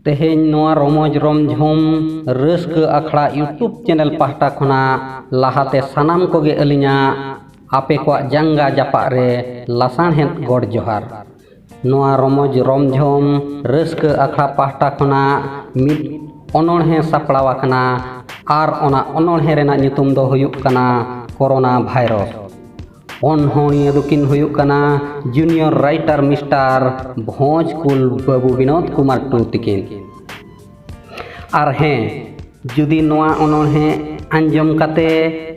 ᱛᱮᱦᱮᱧ ᱱᱚᱣᱟ ᱨᱚᱢᱚᱡᱽ ᱨᱚᱢᱡᱷᱚᱢ ᱨᱟᱹᱥᱠᱟᱹ ᱟᱠᱷᱲᱟ ᱤᱭᱩᱴᱩᱵᱽ ᱪᱮᱱᱮᱞ ᱯᱟᱦᱴᱟ ᱠᱷᱚᱱᱟᱜ ᱞᱟᱦᱟᱛᱮ ᱥᱟᱱᱟᱢ ᱠᱚᱜᱮ ᱟᱹᱞᱤᱧᱟᱜ ᱟᱯᱮ ᱠᱚᱣᱟᱜ ᱡᱟᱸᱜᱟ ᱡᱟᱯᱟᱜ ᱨᱮ ᱞᱟᱥᱟᱬᱦᱮᱫ ᱜᱚᱰ ᱡᱚᱦᱟᱨ ᱱᱚᱣᱟ ᱨᱚᱢᱚᱡᱽ ᱨᱚᱢᱡᱷᱚᱢ ᱨᱟᱹᱥᱠᱟᱹ ᱟᱠᱷᱲᱟ ᱯᱟᱦᱴᱟ ᱠᱷᱚᱱᱟᱜ ᱢᱤᱫ ᱚᱱᱚᱬᱦᱮ ᱥᱟᱯᱲᱟᱣ ᱟᱠᱟᱱᱟ ᱟᱨ ᱚᱱᱟ ᱚᱱᱚᱬᱦᱮ ᱨᱮᱱᱟᱜ ᱧᱩᱛᱩᱢ ᱫᱚ ᱦᱩᱭᱩᱜ ᱠᱟᱱᱟ ᱠᱚᱨᱳᱱᱟ ᱵᱷᱟᱭᱨᱚᱥ ᱚᱱᱚᱬᱦᱤᱭᱟᱹ ᱫᱚᱠᱤᱱ ᱦᱩᱭᱩᱜ ᱠᱟᱱᱟ ᱡᱩᱱᱤᱭᱚᱨ ᱨᱟᱭᱴᱟᱨ ᱢᱤᱥᱴᱟᱨ ᱵᱷᱚᱸᱡᱽ ᱠᱩᱞ ᱵᱟᱹᱵᱩ ᱵᱤᱱᱳᱫ ᱠᱩᱢᱟᱨ ᱴᱩᱰᱩ ᱛᱤᱠᱤᱱ ᱟᱨ ᱦᱮᱸ ᱡᱩᱫᱤ ᱱᱚᱣᱟ ᱚᱱᱚᱬᱦᱮ ᱟᱸᱡᱚᱢ ᱠᱟᱛᱮ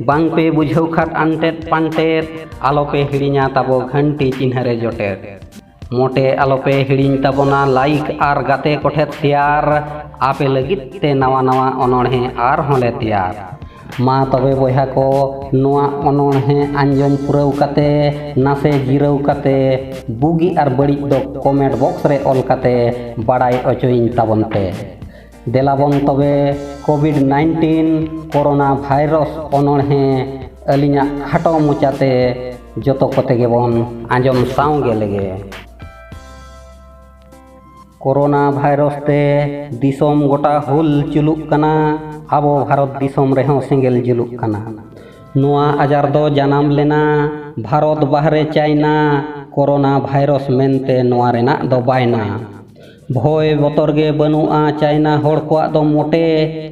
ᱵᱟᱝ ᱯᱮ ᱵᱩᱡᱷᱟᱹᱣ ᱠᱷᱟᱱ ᱟᱱᱴᱮᱫ ᱯᱟᱱᱴᱮᱫ ᱟᱞᱚ ᱯᱮ ᱦᱤᱲᱤᱧᱟ ᱛᱟᱵᱚ ᱜᱷᱟᱱᱴᱤ ᱪᱤᱱᱦᱟᱹ ᱨᱮ ᱡᱚᱴᱮᱫ ᱢᱚᱴᱮ ᱟᱞᱚ ᱯᱮ ᱦᱤᱲᱤᱧ ᱛᱟᱵᱚᱱᱟ ᱞᱟᱭᱤᱠ ᱟᱨ ᱜᱟᱛᱮ ᱠᱚᱴᱷᱮᱱ ᱥᱮᱭᱟᱨ ᱟᱯᱮ ᱞᱟᱹᱜᱤᱫ ᱛᱮ ᱱᱟᱣᱟ ᱱᱟᱣᱟ ᱚᱱᱚᱬᱦᱮ ᱟᱨᱦᱚᱸ ᱞᱮ ᱛᱮᱭᱟᱨ ᱢᱟ ᱛᱚᱵᱮ ᱵᱚᱭᱦᱟ ᱠᱚ ᱱᱚᱣᱟ ᱚᱱᱚᱬᱦᱮᱸ ᱟᱸᱡᱚᱢ ᱯᱩᱨᱟᱹᱣ ᱠᱟᱛᱮ ᱱᱟᱥᱮ ᱡᱤᱨᱟᱹᱣ ᱠᱟᱛᱮ ᱵᱩᱜᱤ ᱟᱨ ᱵᱟᱹᱲᱤᱡ ᱫᱚ ᱠᱚᱢᱮᱱᱴ ᱵᱚᱠᱥ ᱨᱮ ᱚᱞ ᱠᱟᱛᱮ ᱵᱟᱲᱟᱭ ᱚᱪᱚᱭᱤᱧ ᱛᱟᱵᱚᱱ ᱯᱮ ᱫᱮᱞᱟ ᱵᱚᱱ ᱛᱚᱵᱮ ᱠᱳᱵᱷᱤᱰ ᱱᱟᱭᱤᱱᱴᱤᱱ ᱠᱳᱨᱳᱱᱟ ᱵᱷᱟᱭᱨᱚᱥ ᱚᱱᱚᱬᱦᱮᱸ ᱟᱹᱞᱤᱧᱟᱜ ᱠᱷᱟᱴᱚ ᱢᱚᱪᱟᱛᱮ ᱡᱚᱛᱚ ᱠᱚᱛᱮ ᱜᱮᱵᱚᱱ ᱟᱸᱡᱚᱢ ᱥᱟᱶ ᱜᱮ ᱞᱮᱜᱮ ᱠᱳᱨᱳᱱᱟ ᱵᱷᱟᱭᱨᱚᱥ ᱛᱮ ᱫᱤᱥᱚᱢ ᱜᱚᱴᱟ ᱦᱩᱞ ᱪᱩᱞᱩᱜ ᱠᱟᱱᱟ ᱟᱵᱚ ᱵᱷᱟᱨᱚᱛ ᱫᱤᱥᱚᱢ ᱨᱮᱦᱚᱸ ᱥᱮᱸᱜᱮᱞ ᱡᱩᱞᱩᱜ ᱠᱟᱱᱟ ᱱᱚᱣᱟ ᱟᱡᱟᱨ ᱫᱚ ᱡᱟᱱᱟᱢ ᱞᱮᱱᱟ ᱵᱷᱟᱨᱚᱛ ᱵᱟᱦᱨᱮ ᱪᱟᱭᱱᱟ ᱠᱳᱨᱳᱱᱟ ᱵᱷᱟᱭᱨᱚᱥ ᱢᱮᱱᱛᱮ ᱱᱚᱣᱟ ᱨᱮᱱᱟᱜ ᱫᱚ ᱵᱟᱭᱱᱟ ᱵᱷᱚᱭ ᱵᱚᱛᱚᱨ ᱜᱮ ᱵᱟᱹᱱᱩᱜᱼᱟ ᱪᱟᱭᱱᱟ ᱦᱚᱲ ᱠᱚᱣᱟᱜ ᱫᱚ ᱢᱚᱴᱮ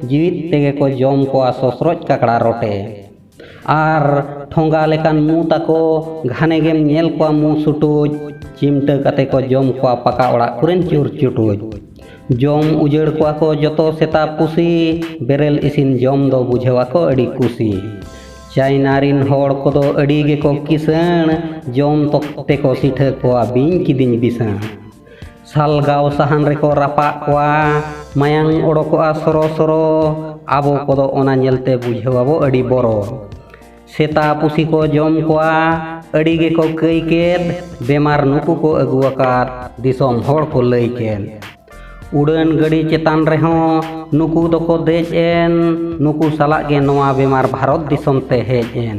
ᱡᱤᱣᱤᱫ ᱛᱮᱜᱮ ᱠᱚ ᱡᱚᱢ ᱠᱚᱣᱟ ᱥᱚᱥᱨᱚᱡ ᱠᱟᱠᱲᱟ ᱨᱚᱴᱮ ᱟᱨ ᱴᱷᱚᱸᱜᱟ ᱞᱮᱠᱟᱱ ᱢᱩ ᱛᱟᱠᱚ ᱜᱷᱟᱱᱮ ᱜᱮᱢ ᱧᱮᱞ ᱠᱚᱣᱟ ᱢᱩ ᱥᱩᱴᱩᱡ ᱪᱤᱢᱴᱟᱹ ᱠᱟᱛᱮ ᱠᱚ ᱡᱚᱢ ᱠᱚᱣᱟ ᱯᱟᱠᱟ ᱚᱲᱟᱜ ᱠᱚᱨᱮᱱ ᱪᱩᱨ ᱪᱩᱴᱩᱡ ᱡᱚᱢ ᱩᱡᱟᱹᱲ ᱠᱚᱣᱟ ᱠᱚ ᱡᱚᱛᱚ ᱥᱮᱛᱟ ᱯᱩᱥᱤ ᱵᱮᱨᱮᱞ ᱤᱥᱤᱱ ᱡᱚᱢ ᱫᱚ ᱵᱩᱡᱷᱟᱹᱣᱟ ᱠᱚ ᱟᱹᱰᱤ ᱠᱩᱥᱤ ᱪᱟᱭᱱᱟ ᱨᱤᱱ ᱦᱚᱲ ᱠᱚᱫᱚ ᱟᱹᱰᱤ ᱜᱮᱠᱚ ᱠᱤᱥᱟᱹᱬ ᱡᱚᱢ ᱛᱮᱠᱚ ᱥᱤᱴᱷᱟᱹ ᱠᱚᱣᱟ ᱵᱤᱧ ᱠᱤᱫᱤᱧ ᱵᱤᱥᱟᱹᱬ ᱥᱟᱞᱜᱟᱣ ᱥᱟᱦᱟᱱ ᱨᱮᱠᱚ ᱨᱟᱯᱟᱜ ᱠᱚᱣᱟ ᱢᱟᱭᱟᱝ ᱚᱰᱚᱠᱚᱜᱼᱟ ᱥᱚᱨᱚ ᱥᱚᱨᱚ ᱟᱵᱚ ᱠᱚᱫᱚ ᱚᱱᱟ ᱧᱮᱞᱛᱮ ᱵᱩᱡᱷᱟᱹᱣ ᱟᱵᱚ ᱟᱹᱰᱤ ᱵᱚᱨᱚ ᱥᱮᱛᱟ ᱯᱩᱥᱤ ᱠᱚ ᱡᱚᱢ ᱠᱚᱣᱟ ᱟᱹᱰᱤ ᱜᱮᱠᱚ ᱠᱟᱹᱭ ᱠᱮᱫ ᱵᱮᱢᱟᱨ ᱱᱩᱠᱩ ᱠᱚ ᱟᱹᱜᱩ ᱟᱠᱟᱫ ᱫᱤᱥᱚᱢ ᱦᱚᱲ ᱠᱚ ᱞᱟᱹᱭ ᱠᱮᱫ ᱩᱰᱟᱹᱱ ᱜᱟᱹᱰᱤ ᱪᱮᱛᱟᱱ ᱨᱮᱦᱚᱸ ᱱᱩᱠᱩ ᱫᱚᱠᱚ ᱫᱮᱡ ᱮᱱ ᱱᱩᱠᱩ ᱥᱟᱞᱟᱜ ᱜᱮ ᱱᱚᱣᱟ ᱵᱮᱢᱟᱨ ᱵᱷᱟᱨᱚᱛ ᱫᱤᱥᱚᱢ ᱛᱮ ᱦᱮᱡ ᱮᱱ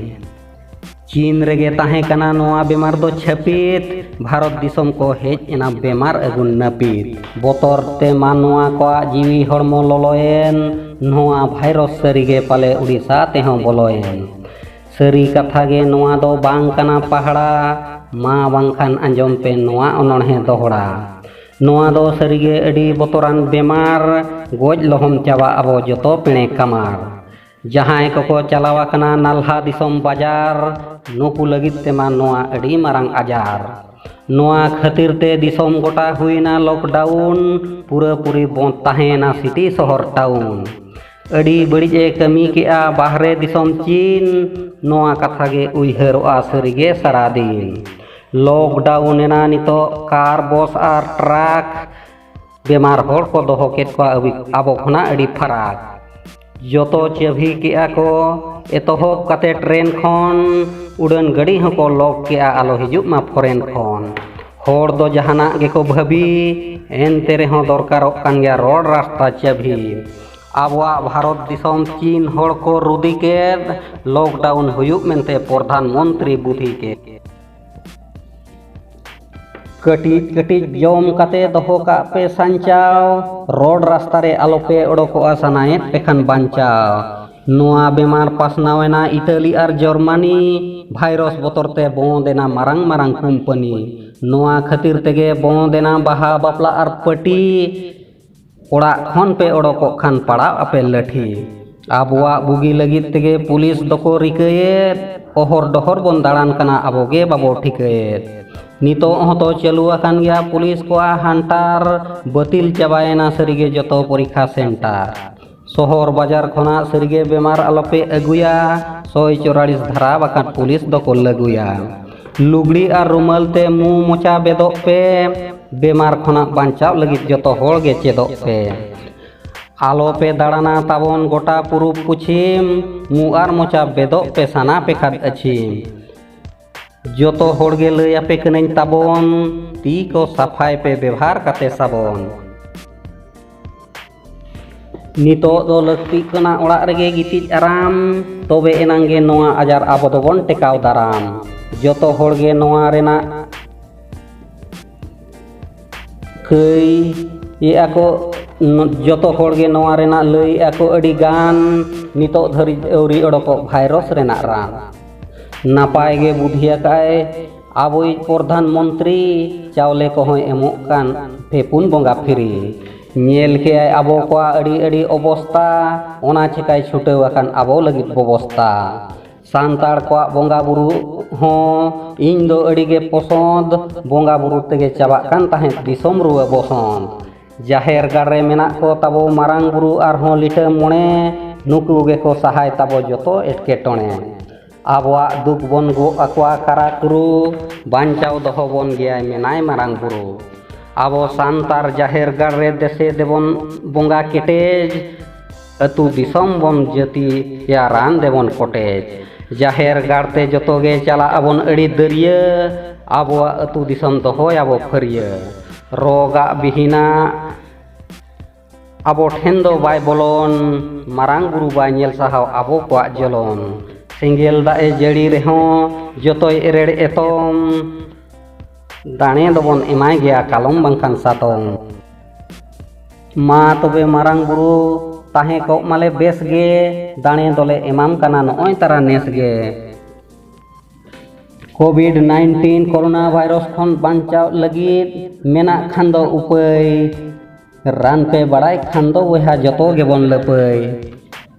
ᱪᱤᱱ ᱨᱮᱜᱮ ᱛᱟᱦᱮᱸ ᱠᱟᱱᱟ ᱱᱚᱣᱟ ᱵᱮᱢᱟᱨ ᱫᱚ ᱪᱷᱟᱹᱯᱤᱛ ᱵᱷᱟᱨᱚᱛ ᱫᱤᱥᱚᱢ ᱠᱚ ᱦᱮᱡ ᱮᱱᱟ ᱵᱮᱢᱟᱨ ᱟᱹᱜᱩ ᱱᱟᱹᱯᱤᱛ ᱵᱚᱛᱚᱨ ᱛᱮ ᱢᱟᱱᱣᱟ ᱠᱚᱣᱟᱜ ᱡᱤᱣᱤ ᱦᱚᱲᱢᱚ ᱞᱚᱞᱚᱭᱮᱱ ᱱᱚᱣᱟ ᱵᱷᱟᱭᱨᱚᱥ ᱥᱟᱹᱨᱤᱜᱮ ᱯᱟᱞᱮ ᱩᱲᱤᱥᱥᱟ ᱛᱮᱦᱚᱸ ᱵᱚᱞᱚᱭᱮᱱ ᱥᱟᱹᱨᱤ ᱠᱟᱛᱷᱟ ᱜᱮ ᱱᱚᱣᱟ ᱫᱚ ᱵᱟᱝ ᱠᱟᱱᱟ ᱯᱟᱦᱲᱟ ᱢᱟ ᱵᱟᱝᱠᱷᱟᱱ ᱟᱸᱡᱚᱢ ᱯᱮ ᱱᱚᱣᱟ ᱚᱱᱚᱬᱦᱮ ᱫᱚᱦᱲᱟ ᱱᱚᱣᱟ ᱫᱚ ᱥᱟᱹᱨᱤᱜᱮ ᱟᱹᱰᱤ ᱵᱚᱛᱚᱨᱟᱱ ᱵᱮᱢᱟᱨ ᱜᱚᱡ ᱞᱚᱦᱚᱢ ᱪᱟᱵᱟᱜ ᱟᱵᱚ ᱡᱚᱛᱚ ᱯᱮᱬᱮ ᱠᱟᱢᱟᱨ ᱡᱟᱦᱟᱸᱭ ᱠᱚᱠᱚ ᱪᱟᱞᱟᱣ ᱟᱠᱟᱱᱟ ᱱᱟᱞᱦᱟ ᱫᱤᱥᱚᱢ ᱵᱟᱡᱟᱨ ᱱᱩᱠᱩ ᱞᱟᱹᱜᱤᱫ ᱛᱮᱢᱟ ᱱᱚᱣᱟ ᱟᱹᱰᱤ ᱢᱟᱨᱟᱝ ᱟᱡᱟᱨ ᱱᱚᱣᱟ ᱠᱷᱟᱹᱛᱤᱨ ᱛᱮ ᱫᱤᱥᱚᱢ ᱜᱚᱴᱟ ᱦᱩᱭᱱᱟ ᱞᱚᱠᱰᱟᱣᱩᱱ ᱯᱩᱨᱟᱹ ᱯᱩᱨᱤ ᱵᱚᱸᱫᱽ ᱛᱟᱦᱮᱸᱭᱮᱱᱟ ᱥᱤᱴᱤ ᱥᱚᱦᱚᱨ ᱴᱟᱣᱩᱱ ᱟᱹᱰᱤ ᱵᱟᱹᱲᱤᱡ ᱮ ᱠᱟᱹᱢᱤ ᱠᱮᱜᱼᱟ ᱵᱟᱦᱨᱮ ᱫᱤᱥᱚᱢ ᱪᱤᱱ ᱱᱚᱣᱟ ᱠᱟᱛᱷᱟ ᱜᱮ ᱩᱭᱦᱟᱹᱨᱚᱜᱼᱟ ᱥᱟᱹᱨᱤᱜᱮ ᱥᱟᱨᱟ ᱫᱤᱱ ᱞᱚᱠᱰᱟᱣᱩᱱ ᱮᱱᱟ ᱱᱤᱛᱚᱜ ᱠᱟᱨ ᱵᱚᱥ ᱟᱨ ᱴᱨᱟᱠ ᱵᱮᱢᱟᱨ ᱦᱚᱲ ᱠᱚ ᱫᱚᱦᱚ ᱠᱮᱫ ᱠᱚᱣᱟ ᱟᱵᱚ ᱠᱷᱚᱱᱟᱜ ᱟᱹᱰᱤ ᱯᱷᱟᱨᱟᱠ ᱡᱚᱛᱚ ᱪᱟᱹᱵᱷᱤ ᱠᱮᱜᱼᱟ ᱠᱚ ᱮᱛᱚᱦᱚᱵ ᱠᱟᱛᱮ ᱴᱨᱮᱱ ᱠᱷᱚᱱ ᱩᱰᱟᱹᱱ ᱜᱟᱹᱰᱤ ᱦᱚᱸᱠᱚ ᱞᱚᱠ ᱠᱮᱜᱼᱟ ᱟᱞᱚ ᱦᱤᱡᱩᱜ ᱢᱟ ᱯᱷᱚᱨᱮᱱ ᱠᱷᱚᱱ ᱦᱚᱲ ᱫᱚ ᱡᱟᱦᱟᱱᱟᱜ ᱜᱮᱠᱚ ᱵᱷᱟᱹᱵᱤ ᱮᱱᱛᱮ ᱨᱮᱦᱚᱸ ᱫᱚᱨᱠᱟᱨᱚᱜ ᱠᱟᱱ ᱜᱮᱭᱟ ᱨᱚᱲ ᱨᱟᱥᱛᱟ ᱪᱟᱹᱵᱷᱤ ᱟᱵᱚᱣᱟᱜ ᱵᱷᱟᱨᱚᱛ ᱫᱤᱥᱚᱢ ᱪᱤᱱ ᱦᱚᱲ ᱠᱚ ᱨᱩᱫᱤ ᱠᱮᱫ ᱞᱚᱠᱰᱟᱣᱩᱱ ᱦᱩᱭᱩᱜ ᱢᱮᱱᱛᱮ ᱯᱨᱚᱫᱷᱟᱱ ᱢᱚᱱᱛᱨᱤ ᱵᱩᱫᱷᱤ ᱠᱮᱫ ᱠᱟᱹᱴᱤᱡ ᱠᱟᱹᱴᱤᱡ ᱡᱚᱢ ᱠᱟᱛᱮ ᱫᱚᱦᱚ ᱠᱟᱜ ᱯᱮ ᱥᱟᱧᱪᱟᱣ ᱨᱚᱰ ᱨᱟᱥᱛᱟ ᱨᱮ ᱟᱞᱚᱯᱮ ᱚᱰᱚᱠᱚᱜᱼᱟ ᱥᱟᱱᱟᱭᱮᱫ ᱯᱮ ᱠᱷᱟᱱ ᱵᱟᱧᱪᱟᱣ ᱱᱚᱣᱟ ᱵᱮᱢᱟᱨ ᱯᱟᱥᱱᱟᱣ ᱮᱱᱟ ᱤᱛᱟᱞᱤ ᱟᱨ ᱡᱚᱨᱢᱟᱱᱤ ᱵᱷᱟᱭᱨᱚᱥ ᱵᱚᱛᱚᱨ ᱛᱮ ᱵᱚᱸᱫ ᱮᱱᱟ ᱢᱟᱨᱟᱝ ᱢᱟᱨᱟᱝ ᱠᱳᱢᱯᱟᱱᱤ ᱱᱚᱣᱟ ᱠᱷᱟᱹᱛᱤᱨ ᱛᱮᱜᱮ ᱵᱚᱸᱫ ᱮᱱᱟ ᱵᱟᱦᱟ ᱵᱟᱯᱞᱟ ᱟᱨ ᱯᱟᱹᱴᱤ ᱚᱲᱟᱜ ᱠᱷᱚᱱ ᱯᱮ ᱚᱰᱚᱠᱚᱜ ᱠᱷᱟᱱ ᱯᱟᱲᱟᱣ ᱟᱯᱮ ᱞᱟᱹᱴᱷᱤ ᱟᱵᱚᱣᱟᱜ ᱵᱩᱜᱤ ᱞᱟᱹᱜᱤᱫ ᱛᱮᱜᱮ ᱯᱩᱞᱤᱥ ᱫᱚᱠᱚ ᱨᱤᱠᱟᱹᱭᱮᱫ ᱚᱦᱚᱨ ᱰᱚᱦᱚᱨ ᱵᱚᱱ ᱫᱟᱬᱟᱱ ᱠᱟᱱᱟ ᱟᱵᱚ ᱜᱮ ᱵᱟᱵᱚ ᱴᱷᱤᱠᱟᱹᱭᱮᱫ ᱱᱤᱛᱚᱜ ᱦᱚᱸᱛᱚ ᱪᱟᱹᱞᱩ ᱟᱠᱟᱱ ᱜᱮᱭᱟ ᱯᱩᱞᱤᱥ ᱠᱚᱣᱟᱜ ᱦᱟᱱᱴᱟᱨ ᱵᱟᱹᱛᱤᱞ ᱪᱟᱵᱟᱭᱮᱱᱟ ᱥᱟᱹᱨᱤᱜᱮ ᱡᱚᱛᱚ ᱯᱚᱨᱤᱠᱠᱷᱟ ᱥᱮᱱᱴᱟᱨ ᱥᱚᱦᱚᱨ ᱵᱟᱡᱟᱨ ᱠᱷᱚᱱᱟᱜ ᱥᱟᱹᱨᱤᱜᱮ ᱵᱮᱢᱟᱨ ᱟᱞᱚᱯᱮ ᱟᱹᱜᱩᱭᱟ ᱥᱚᱭ ᱪᱚᱨᱟᱲᱤᱥ ᱫᱷᱟᱨᱟ ᱵᱟᱠᱷᱟᱱ ᱯᱩᱞᱤᱥ ᱫᱚᱠᱚ ᱞᱟᱹᱜᱩᱭᱟ ᱞᱩᱜᱽᱲᱤ ᱟᱨ ᱨᱩᱢᱟᱹᱞ ᱛᱮ ᱢᱩ ᱢᱚᱪᱟ ᱵᱮᱫᱚᱜ ᱯᱮ ᱵᱮᱢᱟᱨ ᱠᱷᱚᱱᱟᱜ ᱵᱟᱧᱪᱟᱣ ᱞᱟᱹᱜᱤᱫ ᱡᱚᱛᱚ ᱦᱚᱲ ᱜᱮ ᱪᱮᱫᱚᱜ ᱯᱮ ᱟᱞᱚᱯᱮ ᱫᱟᱬᱟᱱᱟ ᱛᱟᱵᱚᱱ ᱜᱚᱴᱟ ᱯᱩᱨᱩᱵ ᱯᱚᱪᱷᱤᱢ ᱢᱩ ᱟᱨ ᱢᱚᱪᱟ ᱵᱮᱫᱚᱜ ᱯᱮ ᱥᱟᱱᱟ ᱯᱮ ᱠᱷᱟᱱ ᱟᱹᱪᱷᱤᱢ ᱡᱚᱛᱚ ᱦᱚᱲ ᱜᱮ ᱞᱟᱹᱭ ᱟᱯᱮ ᱠᱟᱹᱱᱟᱹᱧ ᱛᱟᱵᱚᱱ ᱛᱤ ᱠᱚ ᱥᱟᱯᱷᱟᱭ ᱯᱮ ᱵᱮᱵᱷᱟᱨ ᱠᱟᱛᱮ ᱥᱟᱵᱚᱱ ᱱᱤᱛᱚᱜ ᱫᱚ ᱞᱟᱹᱠᱛᱤᱜ ᱠᱟᱱᱟ ᱚᱲᱟᱜ ᱨᱮᱜᱮ ᱜᱤᱛᱤᱡ ᱟᱨᱟᱢ ᱛᱚᱵᱮ ᱮᱱᱟᱝ ᱜᱮ ᱱᱚᱣᱟ ᱟᱡᱟᱨ ᱟᱵᱚ ᱫᱚᱵᱚᱱ ᱴᱮᱠᱟᱣ ᱫᱟᱨᱟᱢ ᱡᱚᱛᱚ ᱦᱚᱲ ᱜᱮ ᱱᱚᱣᱟ ᱨᱮᱱᱟᱜ ᱠᱟᱹᱭ ᱮᱫᱟ ᱠᱚ ᱡᱚᱛᱚ ᱦᱚᱲ ᱜᱮ ᱱᱚᱣᱟ ᱨᱮᱱᱟᱜ ᱞᱟᱹᱭ ᱮᱫᱟ ᱠᱚ ᱟᱹᱰᱤ ᱜᱟᱱ ᱱᱤᱛᱚᱜ ᱫᱷᱟᱹᱨᱤᱡ ᱟᱹᱣᱨᱤ ᱚᱰᱚᱠᱚᱜ ᱵᱷᱟᱭᱨᱚᱥ ᱨᱮᱱᱟᱜ ᱨᱟᱱ ᱱᱟᱯᱟᱭ ᱜᱮ ᱵᱩᱫᱷᱤ ᱟᱠᱟᱫ ᱟᱭ ᱟᱵᱚᱭᱤᱡ ᱯᱨᱚᱫᱷᱟᱱ ᱢᱚᱱᱛᱨᱤ ᱪᱟᱣᱞᱮ ᱠᱚᱦᱚᱸᱭ ᱮᱢᱚᱜ ᱠᱟᱱ ᱯᱮ ᱯᱩᱱ ᱵᱚᱸᱜᱟ ᱯᱷᱤᱨᱤ ᱧᱮᱞ ᱠᱮᱫ ᱟᱭ ᱟᱵᱚ ᱠᱚᱣᱟᱜ ᱟᱹᱰᱤ ᱟᱹᱰᱤ ᱚᱵᱚᱥᱛᱟ ᱚᱱᱟ ᱪᱤᱠᱟᱹᱭ ᱪᱷᱩᱴᱟᱹᱣ ᱟᱠᱟᱱ ᱟᱵᱚ ᱞᱟᱹᱜᱤᱫ ᱵᱮᱵᱚᱥᱛᱟ ᱥᱟᱱᱛᱟᱲ ᱠᱚᱣᱟᱜ ᱵᱚᱸᱜᱟ ᱵᱩᱨᱩ ᱦᱚᱸ ᱤᱧ ᱫᱚ ᱟᱹᱰᱤ ᱜᱮ ᱯᱚᱥᱚᱸᱫᱽ ᱵᱚᱸᱜᱟ ᱵᱩᱨᱩ ᱛᱮᱜᱮ ᱪᱟᱵᱟᱜ ᱠᱟᱱ ᱛᱟᱦᱮᱸᱫ ᱫᱤᱥᱚᱢ ᱨᱩᱣᱟᱹ ᱵᱚᱥᱚᱸᱛ ᱡᱟᱦᱮᱨ ᱜᱟᱲ ᱨᱮ ᱢᱮᱱᱟᱜ ᱠᱚ ᱛᱟᱵᱚ ᱢᱟᱨᱟᱝ ᱵᱩᱨᱩ ᱟᱨᱦᱚᱸ ᱞᱤᱴᱟᱹ ᱢᱚᱬᱮ ᱱᱩᱠᱩ ᱜᱮᱠᱚ ᱥᱟᱦᱟᱭ ᱛᱟᱵᱚ ᱡᱚᱛᱚ ᱮᱴᱠᱮᱴᱚᱬᱮ ᱟᱵᱚᱣᱟᱜ ᱫᱩᱠ ᱵᱚᱱ ᱜᱚᱜ ᱟᱠᱚᱣᱟ ᱠᱟᱨᱟ ᱠᱩᱨᱩ ᱵᱟᱧᱪᱟᱣ ᱫᱚᱦᱚ ᱵᱚᱱ ᱜᱮᱭᱟᱭ ᱢᱮᱱᱟᱭ ᱢᱟᱨᱟᱝ ᱵᱩᱨᱩ ᱟᱵᱚ ᱥᱟᱱᱛᱟᱲ ᱡᱟᱦᱮᱨ ᱜᱟᱲ ᱨᱮ ᱫᱮᱥᱮ ᱫᱮᱵᱚᱱ ᱵᱚᱸᱜᱟ ᱠᱮᱴᱮᱡ ᱟᱹᱛᱩ ᱫᱤᱥᱚᱢ ᱵᱚᱱ ᱡᱟᱹᱛᱤ ᱭᱟ ᱨᱟᱱ ᱫᱮᱵᱚᱱ ᱠᱚᱴᱮᱡ ᱡᱟᱦᱮᱨ ᱜᱟᱲ ᱛᱮ ᱡᱚᱛᱚ ᱜᱮ ᱪᱟᱞᱟᱜ ᱟᱵᱚᱱ ᱟᱹᱰᱤ ᱫᱟᱹᱨᱭᱟᱹ ᱟᱵᱚᱣᱟᱜ ᱟᱹᱛᱩ ᱫᱤᱥᱚᱢ ᱫᱚᱦᱚᱭ ᱟᱵᱚ ᱯᱷᱟᱹᱨᱭᱟᱹ ᱨᱚᱜᱟᱜ ᱵᱤᱦᱤᱱᱟ ᱟᱵᱚ ᱴᱷᱮᱱ ᱫᱚ ᱵᱟᱭ ᱵᱚᱞᱚᱱ ᱢᱟᱨᱟᱝ ᱵᱩᱨᱩ ᱵᱟᱭ ᱧᱮᱞ ᱥᱟᱦᱟᱣ ᱟᱵᱚ ᱠᱚᱣᱟᱜ ᱡᱚᱞᱚᱱ ᱥᱮᱸᱜᱮᱞ ᱫᱟᱜ ᱮ ᱡᱟᱹᱲᱤ ᱨᱮᱦᱚᱸ ᱡᱚᱛᱚᱭ ᱮᱨᱮᱲ ᱮᱛᱚᱢ ᱫᱟᱲᱮ ᱫᱚᱵᱚᱱ ᱮᱢᱟᱭ ᱜᱮᱭᱟ ᱠᱟᱞᱚᱢ ᱵᱟᱝᱠᱷᱟᱱ ᱥᱟᱛᱚᱢ ᱢᱟ ᱛᱚᱵᱮ ᱢᱟᱨᱟᱝ ᱵᱩᱨᱩ ᱛᱟᱦᱮᱸ ᱠᱚᱜ ᱢᱟᱞᱮ ᱵᱮᱥ ᱜᱮ ᱫᱟᱲᱮ ᱫᱚᱞᱮ ᱮᱢᱟᱢ ᱠᱟᱱᱟ ᱱᱚᱜᱼᱚᱭ ᱛᱟᱨᱟ ᱱᱮᱥ ᱜᱮ ᱠᱳᱵᱷᱤᱰ ᱱᱟᱭᱤᱱᱴᱤᱱ ᱠᱳᱨᱳᱱᱟ ᱵᱷᱟᱭᱨᱟᱥ ᱠᱷᱚᱱ ᱵᱟᱧᱪᱟᱣ ᱞᱟᱹᱜᱤᱫ ᱢᱮᱱᱟᱜ ᱠᱷᱟᱱ ᱫᱚ ᱩᱯᱟᱹᱭ ᱨᱟᱱ ᱯᱮ ᱵᱟᱲᱟᱭ ᱠᱷᱟᱱ ᱫᱚ ᱵᱚᱭᱦᱟ ᱡᱚᱛᱚ ᱜᱮᱵᱚᱱ ᱞᱟᱹᱯᱟᱹᱭ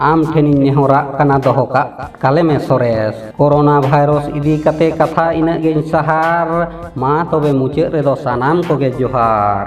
ᱟᱢ ᱴᱷᱮᱱᱤᱧ ᱱᱮᱦᱚᱨᱟᱜ ᱠᱟᱱᱟ ᱫᱚᱦᱚ ᱠᱟᱜ ᱠᱟᱞᱮᱢᱮ ᱥᱚᱨᱮᱥ ᱠᱳᱨᱳᱱᱟ ᱵᱷᱟᱭᱨᱚᱥ ᱤᱫᱤ ᱠᱟᱛᱮ ᱠᱟᱛᱷᱟ ᱤᱱᱟᱹᱜ ᱜᱮᱧ ᱥᱟᱦᱟᱨ ᱢᱟ ᱛᱚᱵᱮ ᱢᱩᱪᱟᱹᱫ ᱨᱮᱫᱚ ᱥᱟᱱᱟᱢ ᱠᱚᱜᱮ ᱡᱚᱦᱟᱨ